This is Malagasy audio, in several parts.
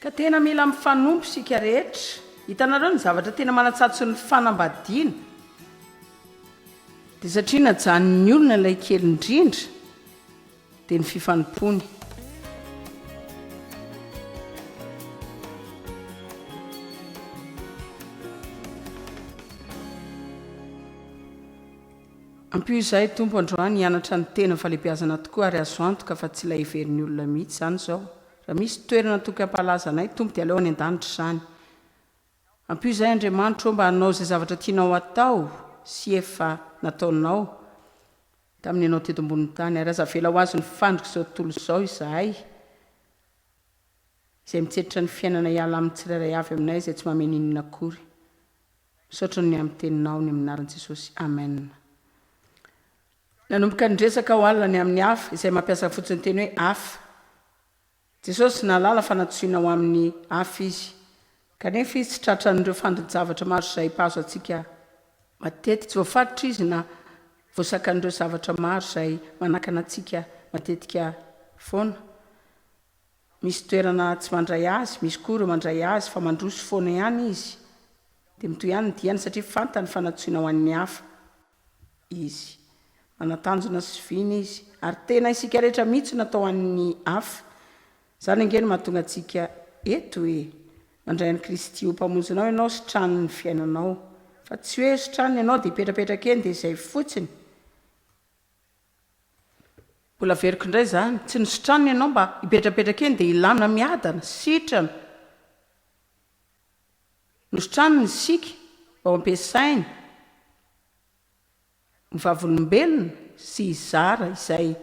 Ka tena mila mifanompo isika rehetra. Hitanareo ny zavatra tena manatsatso ny fanambadiana dia satria najanon'ny olona ilay kely indrindra. Dia ny fifanompoany. Ampio izahay Tompo androany hianatra ny tena falebiazana tokoa ary azo antoka fa tsy ilay heverin'ny olona mihitsy izany izao. Raha misy toerana toky hampahalaza anay Tompo dia aleo any an-danitra izany. Ampio izahay Andriamanitro ô mba hanao izay zavatra tianao hatao sy efa nataonao. tamin'ny anao teto ambonin'ny tany, ary aza avela ho azon'ny fandrika izao tontolo izao izahay, izay mitsenitra ny fiainana hiala amin'ny tsirairay avy aminay izay tsy mamehy n'inona akory. Misaotra noho ny amin'ny Teninao, ny amin'ny anaran'i Jesosy. Amen. Nanomboka niresaka aho alina ny amin'ny hafa, izay mampiasa fotsiny ny teny hoe hafa. Jesosy nahalala fa nantsoina ho amin'ny hafa Izy, kanefa Izy tsy tratran'ireo fandini-javatra maro izay mpahazo antsika matetika. Tsy voafaritra Izy na voasakan'ireo zavatra maro izay manakana antsika matetika foana. Misy toerana tsy mandray Azy, misy koa ireo mandray Azy fa mandroso foana ihany Izy. Dia mitohy ihany ny diany satria fantany fa nantsoina ho an'ny hafa. Izy. Manatanjona sy vina Izy, ary tena isika rehetra mihitsy no atao an'ny hafa. Izany ange no mahatonga antsika eto e! Mandray an'i Kristy ho Mpamonjinao ianao sy tranon'ny fiainanao. Fa tsy hoe sy tranony ianao dia hipetrapetraka eny dia izay fotsiny. Mbola averiko indray izany, tsy ny sy tranony ianao mba hipetrapetraka eny dia hilana miadana, sitrana. Misotrano ny siky vao ampiasainy ny vavolombelona sy hizara izay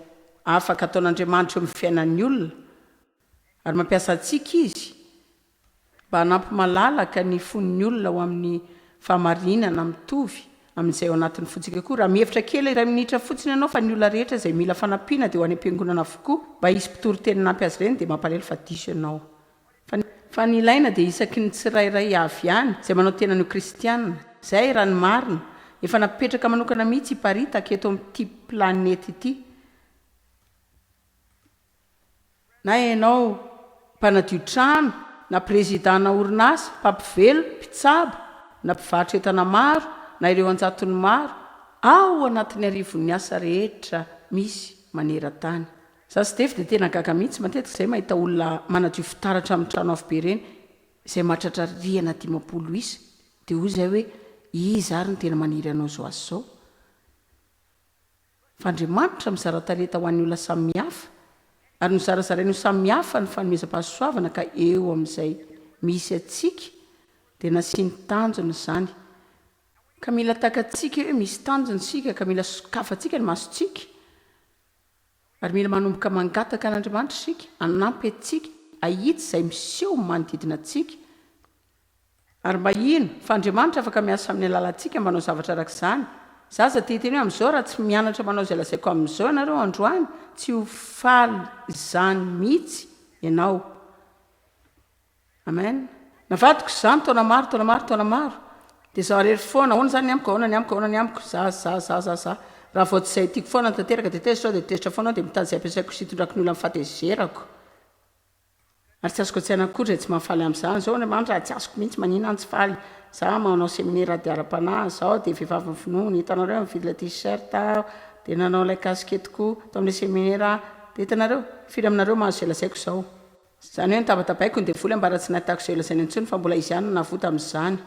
afaka ataon'Andriamanitra eo amin'ny fiainan'ny olona, ary mampiasa antsika Izy mba hanampy malalaka ny fon'ny olona ho amin'ny fahamarinana mitovy amin'izay ao anatin'ny fontsika koa. Raha mihevitra kely iray minitra fotsiny ianao fa ny olona rehetra izay mila fanampiana dia ho any am-piangonana avokoa mba hisy mpitoriteny hanampy azy ireny dia mampalahelo fa diso ianao. Fa ny ilaina dia isaky ny tsirairay avy any izay manao tenany ho kristiana. Izay, raha ny marina, efa napetraka manokana mihitsy hiparitaka eto amin'ity planeta ity. Na ianao mpanadio trano, na prezidàna orinasa, mpampivelo, mpitsabo, na mpivarotra entana maro, na ireo an-jatony maro, ao anatin'ny arivon'ny asa rehetra misy maneran-tany. Za sy Dave dia tena gaga mihitsy matetika izay mahita olona manadio fitaratra amin'ny trano avo be ireny izay mahatratra rihana dimampolo isa dia hoy izahay hoe iza ary no tena maniry hanao izao asa izao fa Andriamanitra mizara talenta ho an'ny olona samy mihafa ary nozarazarainy ho samy mihafa ny fanomezam-pahasoavana ka eo amin'izay misy antsika dia nasiany tanjona izany ka mila takatsika hoe misy tanjona isika ka mila sokafantsika ny masontsika Ary mila manomboka mangataka an'Andriamanitra isika hanampy antsika hahitsy izay miseho manodidina antsika. Ary mba hino fa Andriamanitra afaka miasa amin'ny alalantsika mba hanao zavatra araka izany. Izaho aza te-hiteny hoe amin'izao raha tsy mianatra manao izay lazaiko amin'izao ianareo androany, tsy ho faly izany mihitsy ianao. Amen na vadiko izany taona maro taona maro taona maro de zah rery foana ahoana zany ny amiko ahoana ny amiko ahoana ny amiko zah zah zah zah zah raha vao tsy zay tiko foana ny tanteraka de tezitra aho de tezitra foana aho de mitady zay ampiasaiko sy itondrako ny olona fahatezerako ary tsy azoko an-tsaina akory zay tsy mahafaly am'zany zao ny mandra tsy azoko mihitsy manina any tsy faly zah manao seminera ady ara-panahy zao de vehivavy ny finoany hitanareo mividy ilay t-shirt aho de nanao ilay kasiketiko tamin'ilay seminera aho de hitanareo firy aminareo mahazo zay lazaiko zao Izany hoe notabatabaiko ny devoly ambara tsy nahitako izay holazainy intsony fa mbola izy ihany no navoa tamin'izany.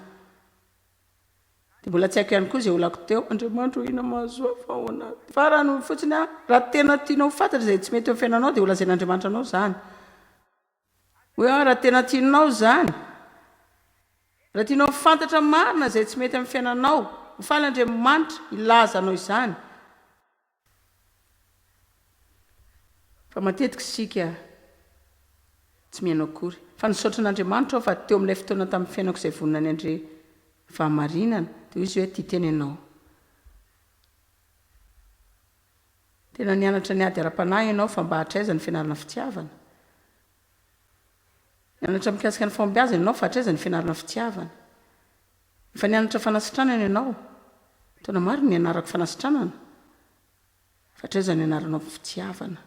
Dia mbola tsy haiko ihany koa izay olako teo. Andriamanitra ô inona mahazoa fa ahoana ary. Farany hoy fotsiny aho, raha tena tianao ho fantatra izay tsy mety eo amin'ny fiainanao dia holazain'Andriamanitra anao izany. Hoy aho, raha tena tianao izany, raha tianao ho fantatra marina izay tsy mety amin'ny fiainanao, ho faly Andriamanitra hilaza anao izany. Fa matetika isika tsy mihaino akory. Fa nisaotra an'Andriamanitra aho fa teo amin'ilay fotoana tamin'ny fiainako izay vonona ny handre fahamarinana, dia hoy Izy hoe, Tia tena ianao. Tena nianatra ny ady ara-panahy ianao, fa mba hatraiza ny fianarana fitiavana? Nianatra mikasika ny fahombiazana ianao, fa hatraiza ny fianarana fitiavana? Efa nianatra fanasitranana ianao? Taona maro no nianarako fanasitranana, fa hatraiza no ianaranao ny fitiavana?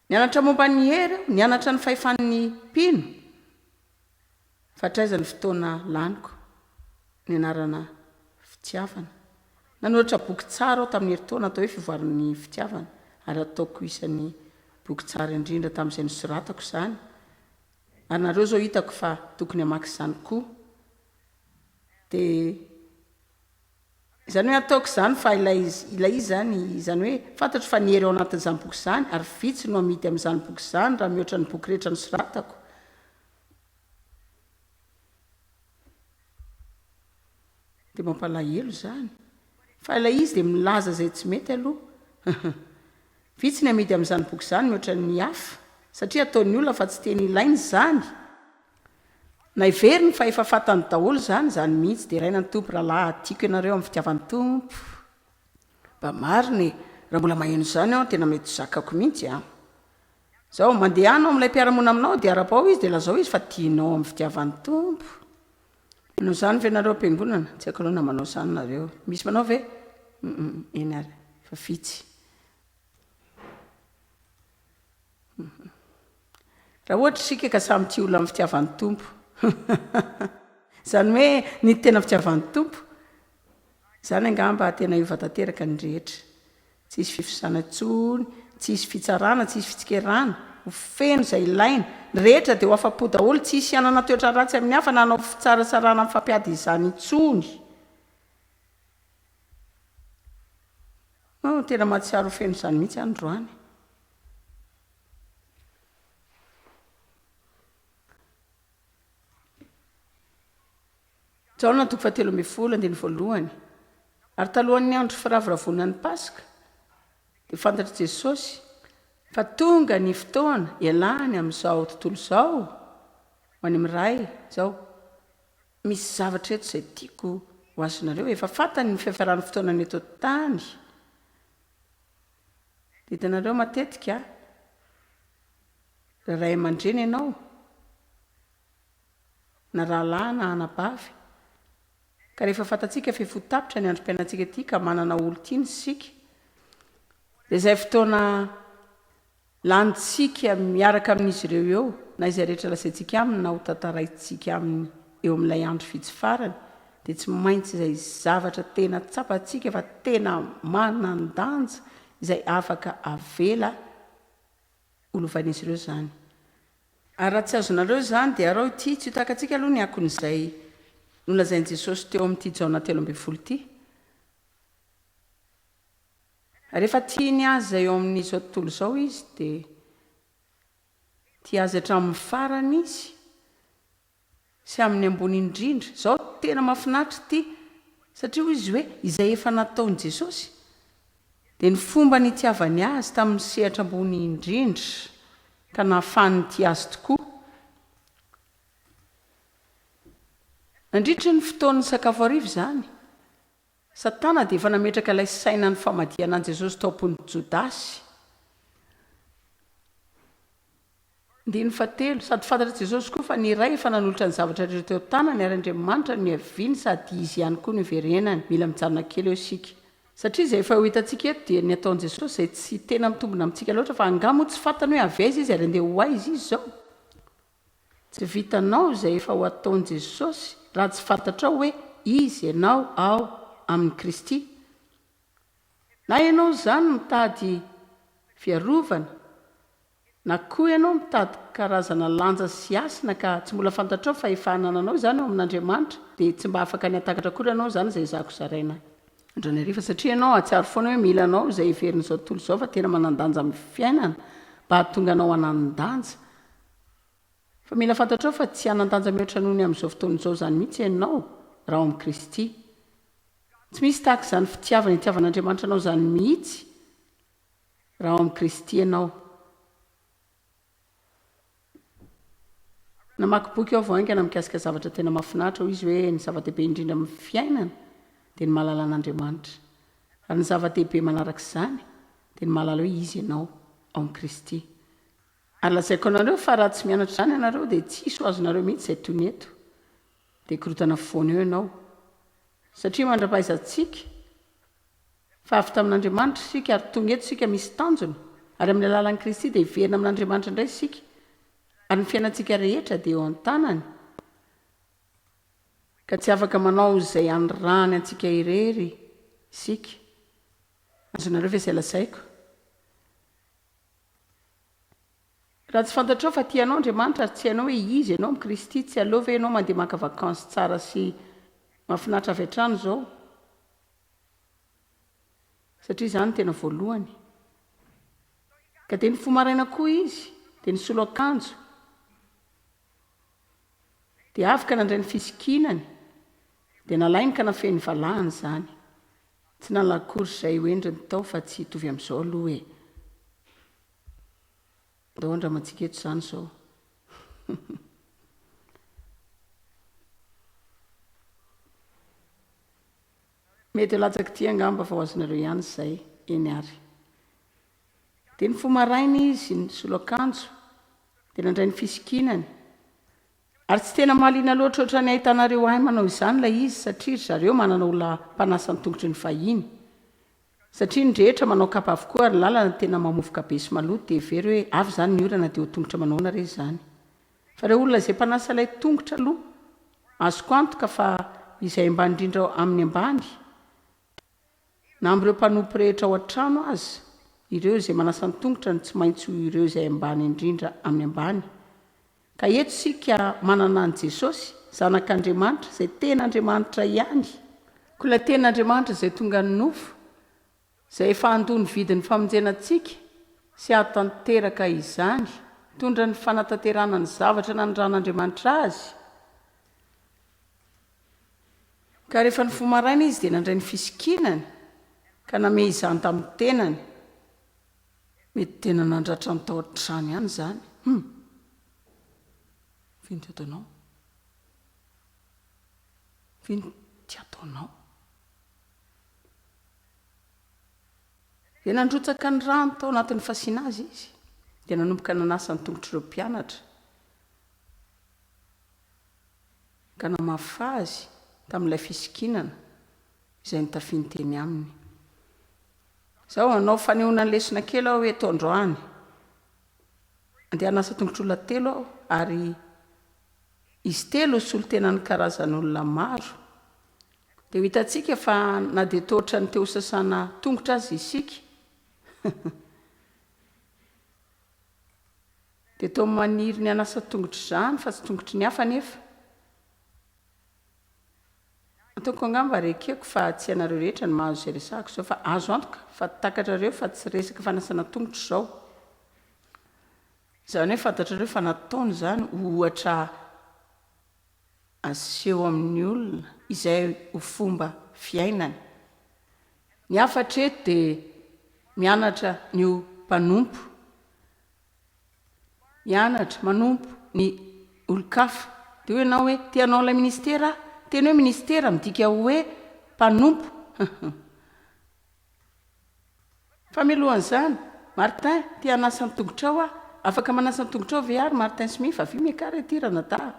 Nianatra momba ny hery aho, nianatra ny fahefan'ny mpino, fa hatraiza ny fotoana laniko nianarana fitiavana? Nanoratra boky tsara aho tamin'ny herintaona atao hoe Fivoaran'ny Fitiavana, ary ataoko isan'ny boky tsara indrindra tamin'izay nosoratako izany, Anareo zao hitako fa tokony hamaky izany koa dia izany hoe ataoko izany fa ilay izy ilay izy izany izany hoe fantatro fa ny hery ao anatin'izany boky izany ary vitsy no amidy amin'izany boky izany raha mihoatra ny boky rehetra nosoratako Dia mampalahelo izany. Fa ilay izy dia milaza izay tsy mety aloha. Hum-hum. Vitsy ny amidy amin'izany boky izany mihoatra ny hafa, satria ataon'ny olona fa tsy teny ilaina izany. Na heveriny fa efa fantany daholo izany, izany mihitsy. Deraina ny Tompo rahalahy a! Tiako ianareo amin'ny fitiavan'ny Tompo. Mba marina e! Raha mbola maheno izany aho, tena mety ho zakako mihitsy an! Izao, mandeha any ao amin'ilay mpiara-monina aminao dia arapao izy dia lazao izy fa tianao amin'ny fitiavan'ny Tompo. Manao izany ve nareo am-piangonana? Tsy haiko aloha na manao izany nareo. Misy manao ve? Humm, eny ary, fa vitsy. Humm. Raha ohatra isika ka samy tia olona amin'ny fitiavan'ny Tompo, izany hoe ny tena fitiavan'ny Tompo, Izany angamba tena hiova tanteraka ny rehetra. Tsy hisy fivosana intsony, tsy hisy fitsarana, tsy hisy fitsikerana, ho feno izay ilaina, ny rehetra dia ho afa-po daholo, tsy hisy hanana toetra ratsy amin'ny hafa na hanao fitsaratsarana mifampiady izany intsony. Oh, tena mahatsiaro ho feno izany mihitsy aho androany. Jaona toko fahatelo ambin'ny folo, andininy voalohany. Ary talohan'ny andro firavoravoana ny Paska, dia fantatr'i Jesosy fa tonga ny fotoana ialany amin'izao tontolo izao ho any amin'ny Ray izao. Misy zavatra eto izay tiako ho azonareo, efa fantany ny fiafaran'ny fotoanany eto an-tany. Hitanareo matetika, raha ray aman-dreny ianao, na rahalahy na anabavy. Ka rehefa fantatsika fa efa ho tapitra ny androm-piainantsika ity ka manana olon-tiana isika, dia izay fotoana lanintsika miaraka amin'izy ireo eo, na izay rehetra lazaintsika aminy na hotantaraintsika aminy eo amin'ilay andro vitsy farany, dia tsy maintsy izay zavatra tena tsapantsika fa tena manan-danja izay afaka avela ho lovan'izy ireo izany. Ary raha tsy azonareo izany, dia arao ity, tsy ho takantsika aloha ny akon'izay nolazain'i Jesosy teo amin'ity Jaona telo ambin'ny folo ity. Rehefa tia ny azy eo amin'izao tontolo izao izy, dia tia azy hatramin'ny farany izy, Sy amin'ny ambony indrindra. Izao tena mahafinaritra ity satria hoy izy hoe izay efa nataon'i Jesosy dia ny fomba nitiavany azy tamin'ny sehatra ambony indrindra ka nahafahany nitia azy tokoa. Nandritra ny fotoan'ny sakafo hariva izany Satana dia efa nametraka ilay sainan'ny famadihana an'i Jesosy tao am-pon'i Jodasy. Andininy fahatelo, Sady fantatr'i Jesosy koa fa ny Ray efa nanolotra ny zavatra rehetra teo an-tanany, ary Andriamanitra no niaviany sady Izy ihany koa no iverenany. Mila mijanona kely eo isika. Satria izay efa ho hitantsika eto dia ny ataon'i Jesosy izay tsy tena mitombina amintsika loatra, fa angaha moa tsy fantany hoe avy aiza Izy ary andeha ho aiza Izy izao? Tsy vitanao izay efa ho ataon'i Jesosy raha tsy fantatrao hoe iza ianao ao amin'i Kristy. Na ianao izany mitady fiarovana, na koa ianao mitady karazana lanja sy hasina ka tsy mbola fantatrao fa efa anananao izany ao amin'Andriamanitra, dia tsy mba afaka ny hatakatra akory ianao izany izay zako zaraina andro ny hariva, satria ianao hahatsiaro foana hoe mila anao izay heverin'izao tontolo izao fa tena manan-danja amin'ny fiainana mba hahatonga anao hanan-danja Fa mila fantatrao fa tsy hanan-danja mihoatra noho ny amin'izao fotoana izao izany mihitsy ianao raha ao amin'i Kristy. Tsy misy tahaka izany fitiavana itiavan'Andriamanitra anao izany mihitsy raha ao amin'i Kristy ianao. Namaky boky aho vao haingana mikasika zavatra tena mahafinaritra, hoy izy hoe, Ny zava-dehibe indrindra amin'ny fiainana dia ny mahalala an'Andriamanitra. Ary ny zava-dehibe manaraka izany dia ny mahalala hoe izy ianao ao amin'i Kristy. Ary lazaiko anareo fa raha tsy mianatra izany ianareo dia tsy hisy ho azonareo mihitsy izay toy ny eto. Dia korontana foana eo ianao. Satria mandra-pahaizantsika fa avy tamin'Andriamanitra isika ary tonga eto isika misy tanjona, ary amin'ny alalan'i Kristy dia hiverina amin'Andriamanitra indray isika, ary ny fiainantsika rehetra dia eo an-tanany, ka tsy afaka manao izay anirahany antsika irery isika. Azonareo ve izay lazaiko? Raha tsy fantatrao fa tia anao Andriamanitra ary tsy hainao hoe iza ianao amin'i Kristy, tsy aleo ve ianao mandeha maka vacances tsara sy mahafinaritra avy hatrany izao? Satria izany no tena voalohany. Ka dia nifoha maraina koa izy, dia nisolo akanjo, dia avy ka nandray ny fisikinany, Dia nalainy ka nafehy ny valahany izany. Tsy nalako akory izay ho endriny tao fa tsy hitovy amin'izao aloha e. Ndao andramantsika eto izany izao. Mety latsak'ity angamba fa ho azonareo ihany izay, eny ary. Dia nifoha maraina izy, nisolo akanjo, dia nandray ny fisikinany. Ary tsy tena mahaliana loatra ohatran'ny ahitanareo ahy manao izany ilay izy satria ry zareo manana olona mpanasa ny tongotry ny fahiny. Satria ny rehetra manao kapa avokoa ary ny lalana tena mamovoka be sy maloto dia hevereo hoe avy izany ny orana dia ho tongotra manao ahoana re izany. Fa ireo olona izay mpanasa ilay tongotra aloha azoko antoka fa izay ambany indrindra amin'ny ambany Na amin'ireo mpanompo rehetra ao an-trano aza, ireo izay manasa an-tongotra no tsy maintsy ho ireo izay ambany indrindra amin'ny ambany. Ka eto isika manana an'i Jesosy, Zanak'Andriamanitra, izay tena Andriamanitra ihany, koa ilay tena Andriamanitra izay tonga nofo, izay efa handoa ny vidin'ny famonjena antsika sy hahatanteraka izany, hitondra ny fanatanterahana ny zavatra nanindran'Andriamanitra Azy. Ka rehefa nifoha maraina izy dia nandray ny fisikinany ka namehy izany tamin'ny tenany. Mety tena nandratra ny tao an-trano ihany izany. Hum! Vin ty ataonao? Vin ty ataonao? Dia nandrotsaka ny rano tao anatin'ny fasiana azy izy dia nanomboka nanasa ny tongotr'ireo mpianatra. ka namafy azy tamin'ilay fisikinana izay nitafiany teny aminy. Izaho hanao fanehoana ny lesona kely aho eto androany. Andeha hanasa tongotr'olona telo aho, ary izy telo solontenan'ny karazan'olona maro. Dia ho hitantsika fa na dia toa ohatran'ny te hosasana tongotra aza isika. Dia toa maniry ny hanasa tongotr zany fa tsy tongotry ny hafa nefa Ataoko angamba ary ekeko fa tsy ianareo rehetra no mahazo izay resahako izao fa azo antoka fa takatrareo fa tsy resaka fanasana tongotro izao izany hoe fantatrareo fa nataony izany ho ohatra aseho amin'ny olona izay ho fomba fiainany Ny hafa hatreto dia mianatra ny ho mpanompo mianatra, manompo ny olon-kafa. Dia hoy ianao hoe, te hanao ilay ministera aho. Ny teny hoe ministera midika ho hoe mpanompo. Fa mialoha an'izany, Martin, te hanasa ny tongotrao aho. Afaka manasa ny tongotrao ve ary Martin Smith? Avio miakara ety ranadahy a!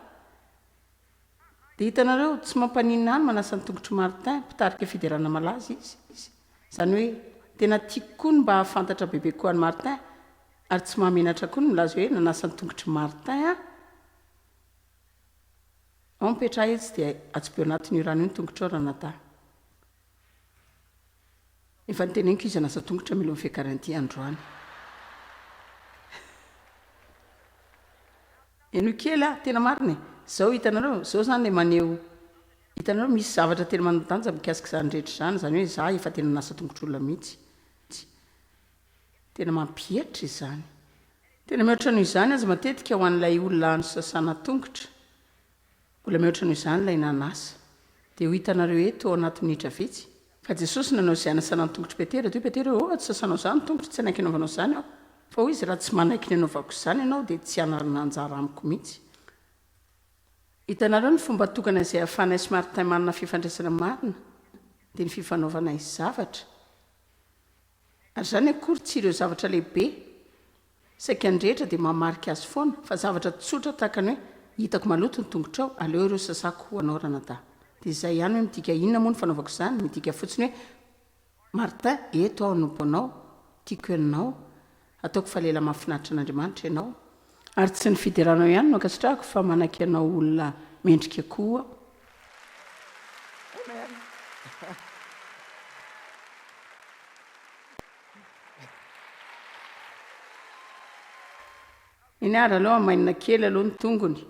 Dia hitanareo, tsy mampaninona ihany manasa ny tongotr'i Martin, mpitarika fiderana malaza, izy, izy. Izany hoe, tena tiako koa ny mba hahafantatra bebe koa an'i Martin, ary tsy mahamenatra koa ny milaza hoe nanasa ny tongotr'i Martin aho. Ao mipetraha etsy dia atsipy ao anatin'io rano io ny tongotrao, Ranadahy. Efa noteneniko izy hanasa tongotra mialohan'ny fiakaran'ity androany. Henoy kely aho, tena marina e! Izao hitanareo, izao izany ilay maneho, hitanareo misy zavatra tena manan-danja mikasika izany rehetra izany, izany hoe izaho efa tena nanasa tongotr'olona mihitsy. Tena mampihatra izany. Tena mihoatra noho izany aza matetika ho an'ilay olona nosasana tongotra, Mbola mihoatra noho izany ilay nanasa. Dia ho hitanareo eto, ao anaty minitra vitsy, fa Jesosy nanao izay hanasanany tongotr'i Petera. Dia hoy Petera, Ô, raha tsy sasanao izany ny tongotro, tsy hanaiky hanaovanao izany aho. Fa hoy izy, Raha tsy manaiky ny hanaovako izany ianao, dia tsy hanarina anjara amiko mihitsy. Hitanareo ny fomba tokana izay ahafahanay sy Martin manana fifandraisana marina? Dia ny fifanaovanay zavatra. Ary izany akory tsy ireo zavatra lehibe. Saika ny rehetra dia mahamarika azy foana fa zavatra tsotra tahaka ny hoe hitako maloto ny tongotrao, aleo ireo sasako ho anao ranadahy. Dia izay ihany hoe midika inona moa ny fanaovako izany? Midika fotsiny hoe Martin eto aho anompo anao, tiako ianao, ataoko fa lehilahy mahafinaritra an'Andriamanitra ianao, ary tsy ny fideranao ihany no ankasitrahako fa manaiky anao ho olona mendrika koa aho. Amen. Eny ary aleo hamainina kely aloha ny tongony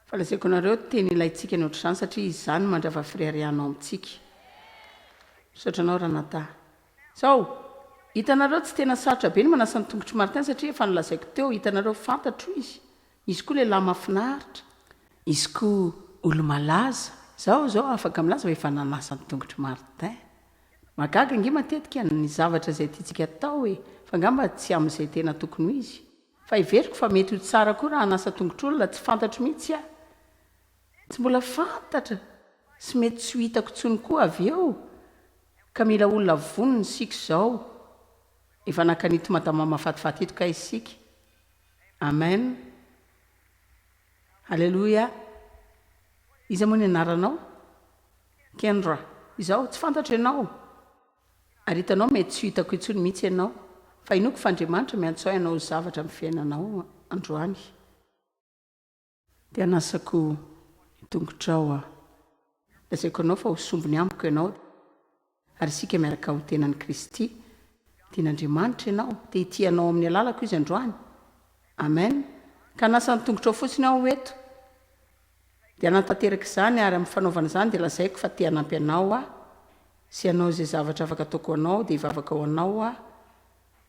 fa lazaiko anareo tena ilaintsika ny ohatr'izany satria izany no mandrava fireharianao amintsika. Misaotra anao Ranata. Zao, hitanareo tsy tena sarotra be ny manasa ny tongotr'i Martin satria efa nolazaiko teo, hitanareo fantatro izy Izy koa lehilahy mafinaritra, izy koa olo-malaza. Zao zao afaka milaza fa efa nanasa ny tongotry Martin. Mahagaga ange matetika ny zavatra izay tiantsika atao e, fa ngamba tsy amin'izay tena tokony ho izy. Fa heveriko fa mety ho tsara koa raha hanasa tongotr'olona tsy fantatro mihitsy aho. Tsy mbola fantatra sy mety tsy ho hitako intsony koa avy eo ka mila olona vonona isika izao. Efa nakan'ito madama mafatifaty ito kay isika. Amen Haleloia Iza moa ny anaranao? Kendra Izaho tsy fantatro ianao Ary hitanao mety tsy ho hitako intsony mihitsy ianao Fa inoako fa Andriamanitra miantsoay hanao zavatra amin'ny fiainanao androany. Dia hanasako ny tongotrao aho. Lazaiko anao fa ho sombiny amiko ianao, ary isika miaraka ho tenan'i Kristy. Tian'Andriamanitra ianao, te hitia anao amin'ny alalako Izy androany. Amen. Ka hanasa ny tongotrao fotsiny aho eto. Dia hanatanteraka izany, ary amin'ny fanaovana izany dia lazaiko fa te hanampy anao aho, sy hanao izay zavatra afaka ataoko ho anao, dia hivavaka ho anao aho.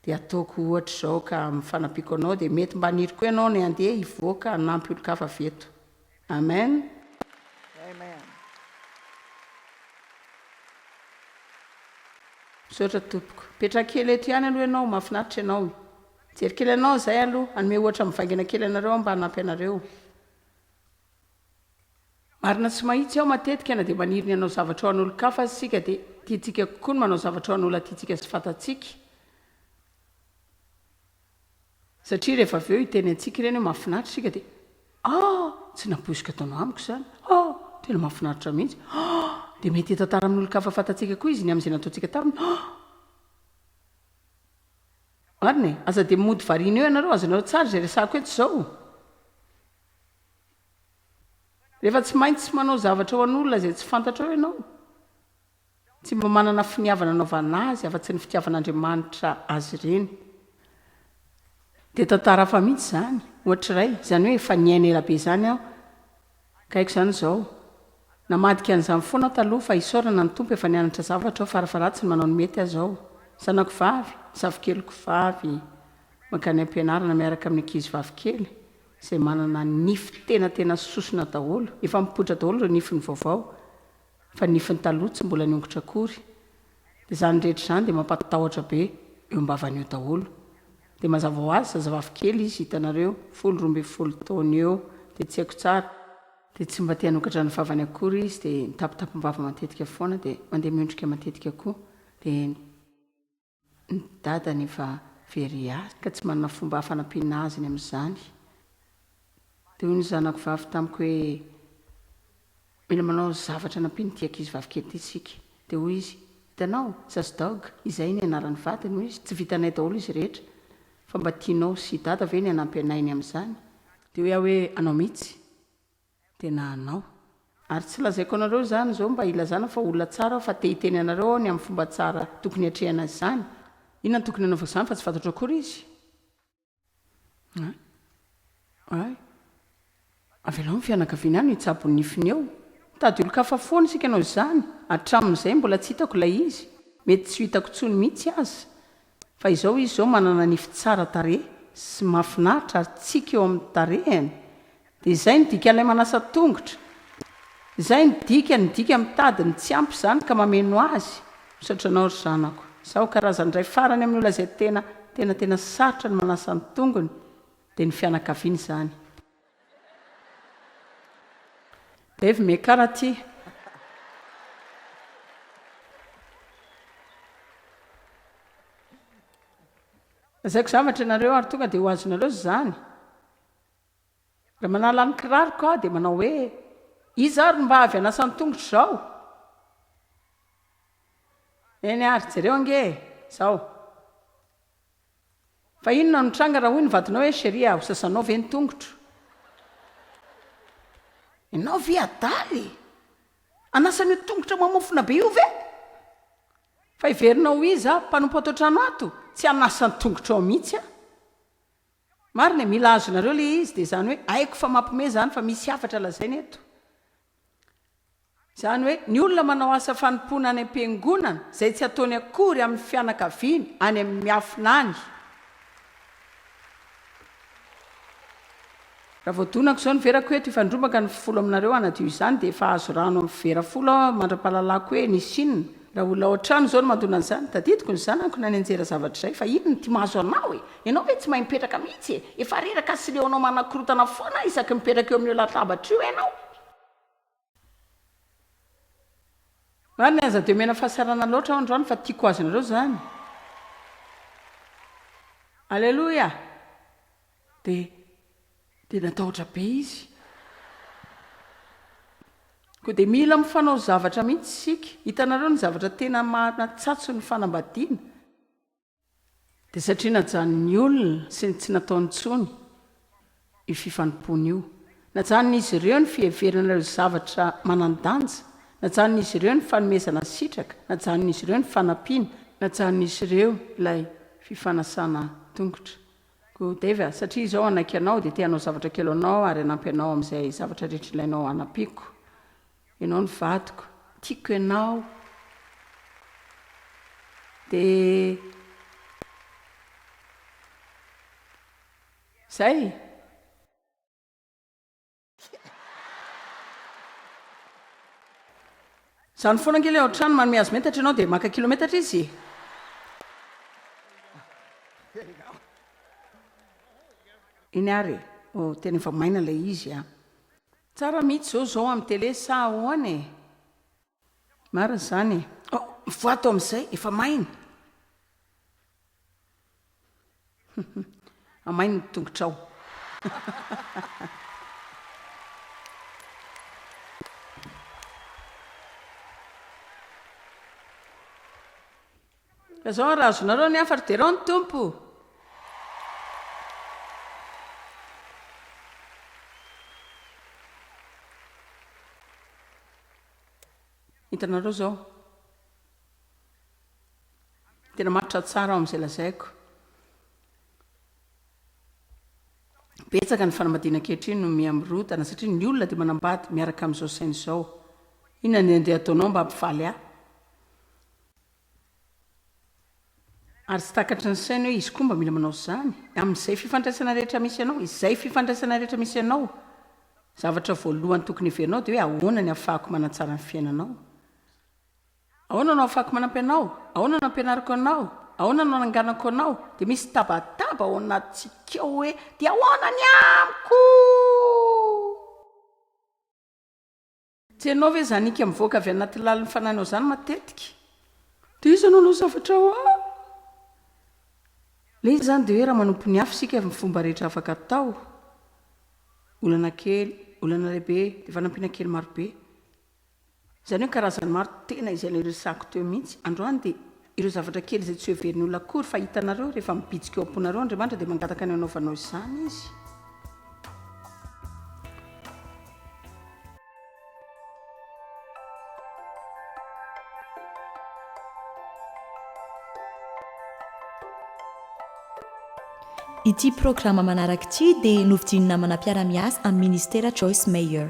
Dia ataoko ohatr'izao ka amin'ny fanampiako anao dia mety mba haniry koa ianao ny handeha hivoaka hanampy olon-kafa avy eto. Amen. Misaotra tompoko. Mipetraha kely eto ihany aloha ianao, mahafinaritra ianao e. Mijery kely anao izay aloha, hanome ohatra mivaingana kely anareo aho mba hanampy anareo. Marina tsy mahitsy aho matetika na dia maniry ny hanao zavatra ho an'olon-kafa aza isika dia tiantsika kokoa ny manao zavatra ho an'olona tiantsika sy fantatsika satria rehefa avy eo hiteny antsika ireny hoe mahafinaritra isika dia ah! tsy nampoiziko ataonao amiko izany ah! tena mahafinaritra mihitsy ah! dia mety hitantara amin'olon-kafa fantatsika koa izy ny amin'izay nataontsika taminy ah! marina e! aza dia mody variana eo ianareo azonareo tsara izay resahako eto izao Rehefa tsy maintsy manao zavatra ho an'olona izay tsy fantatrao ianao, tsy mba manana finiavana hanaovana azy afa-tsy ny fitiavan'Andriamanitra azy ireny. Dia tantara hafa mihitsy izany, ohatra iray, izany hoe efa niaina ela be izany aho, ka haiko izany izao. Namadika an'izany foana aho taloha, fa isaorana ny Tompo efa nianatra zavatra aho, fara-faharatsiny manao ny mety aza aho. Zanako vavy, zafikeliko vavy, mankany am-pianarana miaraka amin'ny ankizivavy kely. izay manana nify tena tena sosona daholo, efa mipoitra daholo ireo nifiny vaovao, fa ny nifiny taloha tsy mbola niongotra akory, dia izany rehetra izany dia mampatahotra be eo am-bavany eo daholo, dia mazava ho azy zazavavy kely izy hitanareo, folo roa ambin'ny folo taona eo, dia tsy haiko tsara, dia tsy mba te hanokatra ny vavany akory izy, dia mitapitapim-bava matetika foana, dia mandeha miondrika matetika koa, dia. Ny dadany efa very azy ka tsy manana fomba hafa hanampiana azy ny amin'izany. Dia hoy ny zanako vavy tamiko hoe, Mila manao zavatra hanampiana ity ankizy vavikely ity isika. Dia hoy izy, Hitanao, Sasdog, izay ny anaran'ny vadiny, hoy izy, tsy vitanay daholo izy rehetra. Fa mba tianao sy i Dada ve ny hanampy anay ny amin'izany? Dia hoy aho hoe, Anao mihitsy. tena anao. Ary tsy lazaiko anareo izany izao mba hilazana fa olona tsara aho fa te hiteny anareo aho ny amin'ny fomba tsara tokony hiatrehana azy izany. Inona no tokony hanaovako izany fa tsy fantatro akory izy? Hay. Hay. Avelao ny fianakaviany any hitsabo ny nifiny eo. Mitady olon-kafa foana isika noho izany. Hatramin'izay mbola tsy hitako ilay izy. Mety tsy ho hitako intsony mihitsy aza. Fa izao izy izao manana nify tsara tarehy sy mahafinaritra ary tsiky eo amin'ny tarehiny dia izay no dikan'ilay manasa tongotra, izay no dikany, ny dika mitady ny tsy ampy izany ka mameno azy, misaotra anao ry zanako, izaho karazana indray farany amin'ny olona izay tena, tena, tena sarotra ny manasa ny tongony dia ny fianakaviana izany. Dave Mekar aty. Lazaiko zavatra ianareo ary tonga dia ho azonareo izany. Raha manala ny kiraroko aho dia manao hoe, iza ary no mba avy hanasa ny tongotro izao? Eny ary, jereo ange e, izao. Fa inona no nitranga raha hoy ny vadinao hoe Cherie a, ho sasanao ve ny tongotro? Ianao ve adala e! Hanasa an'io tongotra mamofona be io ve? Fa heverinao ho iza aho, mpanompo ato an-trano ato? Tsy hanasa ny tongotrao mihitsy aho. Marina e, mila azonareo ilay izy, dia izany hoe haiko fa mampiomehy izany fa misy hafatra lazaina eto. Izany hoe, ny olona manao asa fanompoana any am-piangonana, izay tsy ataony akory amin'ny fianakaviany any amin'ny miafina any. Raha vao donako izao ny verako hoe, tifandrombaka ny folo aminareo hanadio izany, dia efa azo rano amin'ny vera folo aho mandra-pahalalako hoe nisy inona. Raha olona ao an-trano izao no mandona an'izany, tadidiko ny zanako na nianjera zavatra izay, fa inona ny tia mahazo anao e? Ianao ve tsy mahay mipetraka mihitsy e? Efa reraka sy leo anao manakorontana foana isaky mipetraka eo amin'io latabatra io ianao. Marina aza dia omena fahasarana loatra aho androany fa tiako ho azonareo izany. Aleloia! Dia, dia natahotra be izy. Koa dia mila mifanao zavatra mihitsy isika. Hitanareo ny zavatra tena maha-natsatso ny fanambadiana? Dia satria najanon'ny olona sy ny tsy nataony intsony io fifanompoana io. Najanon'izy ireo ny fiheverana ireo zavatra manan-danja, najanon'izy ireo ny fanomezana sitraka, najanon'izy ireo ny fanampiana, najanon'izy ireo ilay fifanasana tongotra. Koa Dave, satria izaho hanaiky anao, dia te-hanao zavatra kely ho anao ary hanampy anao amin'izay zavatra rehetra ilainao hanampiako. Ianao no vadiko, tiako ianao. Dia izay e! Izany foana ange ilay ao an-trano manome azy metatra ianao dia maka kilometatra izy e! Eny ary e! oh, tena efa maina ilay izy an! Tsara mihitsy zao zao am tele sa ahoana e? Marina izany e. Oh, mivoato amin'izay, efa maina. Amaino ny tongotrao. Ka zao ary azonareo ny hafa ry derao ny Tompo Hitanareo zao Tena matotra tsara ao amin'izay lazaiko Betsaka ny fanambadiana ankehitriny no miha mirodana satria ny olona dia manambady miaraka amin'izao saina izao. Inona ny andeha ataonao mba hampifaly ahy? Ary tsy takatry ny sainy hoe izy koa mba mila manao izany. Amin'izay fifandraisana rehetra misy anao, izay fifandraisana rehetra misy anao, zavatra voalohany tokony heverinao dia hoe ahoana ny ahafahako manatsara ny fiainanao? Ahoana no ahafahako manampy anao? Ahoana no ampianariko anao? Ahoana no ananganako anao? Dia misy tabataba ao anatintsika ao hoe dia ahoana ny amiko? Tsy hainao ve izany ika mivoaka avy anaty lalin'ny fananao izany matetika? Dia iza no hanao zavatra ho ahy? Ilay izy izany dia hoe raha manompo ny hafa isika amin'ny fomba rehetra afaka atao, olana kely, olana lehibe, dia fanampiana kely marobe. Izany hoe karazany maro tena izay ilay resahako teo mihitsy. Androany dia Ireo zavatra kely izay tsy hoheverin' olona akory, fa hitanareo, rehefa mibitsika eo am-ponareo Andriamanitra, dia mangataka ny hanaovanao izany Izy. Ity programa manaraka ity dia novidin'ny namana mpiara-miasa amin'ny Ministera Joyce Meyer.